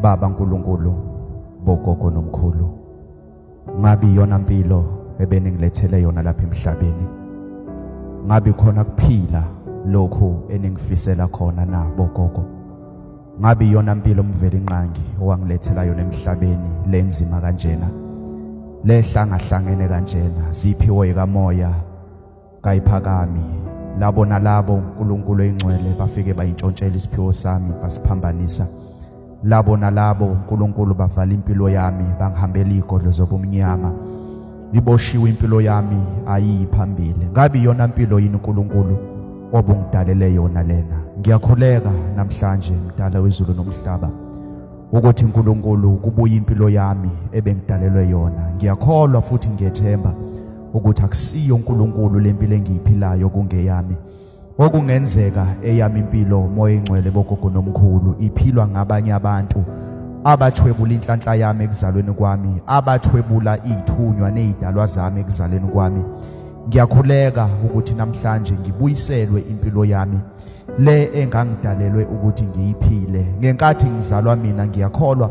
Baba Nkulunkulu bogogo nomkhulu ngabe iyona mpilo ebeningilethele yona lapha emhlabeni ngabe khona kuphila lokhu eningifisela khona na bogogo ngabe iyona mpilo umveli inqangi owangilethela yona emhlabeni lenzima kanjena lehlangahlangene kanjena ziphiwe kamoya kayiphakami labo nalabo uNkulunkulu oyingcwele bafike bayintshontshela isiphiwo sami basiphambanisa labo nalabo uNkulunkulu bavala impilo yami bangihambela igodlo zobumnyama iboshiwe impilo yami ayiyi phambili ngabe iyona impilo yini uNkulunkulu obungidalele yona lena ngiyakhuleka namhlanje mdala wezulu nomhlaba ukuthi uNkulunkulu kubuye impilo yami ebengidalelwe yona ngiyakholwa futhi ngiyethemba ukuthi akusiyo uNkulunkulu lempilo engiyiphilayo kungeyami okungenzeka eyami impilo moya engcwele bogogo nomkhulu iphilwa ngabanye abantu abathwebula inhlanhla yami ekuzalweni kwami abathwebula izithunywa nezidalwa zami ekuzalweni kwami ngiyakhuleka ukuthi namhlanje ngibuyiselwe impilo yami le engangidalelwe ukuthi ngiyiphile ngenkathi ngizalwa mina ngiyakholwa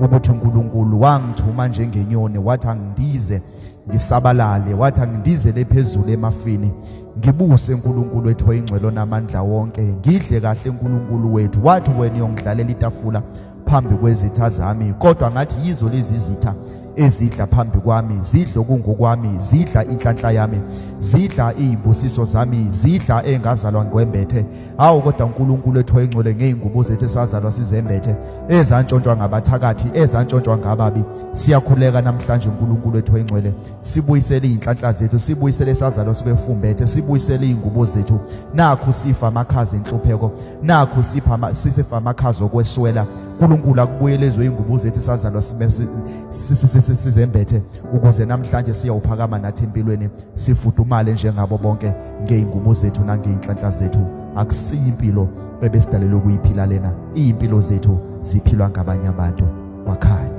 ukuthi uNkulunkulu wangithuma njengenyoni wathi angidize ngisabalale wathi angindizele phezulu emafini ngibuse uNkulunkulu wethu oyingcwelo namandla wonke ngidle kahle uNkulunkulu wethu wathi wena uyongidlalela itafula phambi kwezitha zami kodwa ngathi yizo lezi zitha ezidla phambi kwami zidla okungokwami zidla inhlanhla yami zidla izibusiso zami zidla engazalwa ngwembethe hawu kodwa uNkulunkulu ethu oyingcwele ngeyingubo zethu esazalwa sizembethe ezantshontshwa ngabathakathi ezantshontshwa ngababi siyakhuleka namhlanje uNkulunkulu ethu oyingcwele sibuyisele izinhlanhla zethu sibuyisele isazalwa sibefumbethe sibuyisele izingubo zethu nakhu sifa amakhaza enhlupheko nakhu sipha sisifa amakhaza okweswela uNkulunkulu akubuyelezwe izingubo zethu esazalwa sizembethe ukuze namhlanje siyawuphakama nathi empilweni sifudumale njengabo bonke ngeyingubo zethu nangeyinhlanhla zethu akusiyi impilo ebesidalelwe ukuyiphila lena iyimpilo zethu ziphilwa ngabanye abantu kwakhanya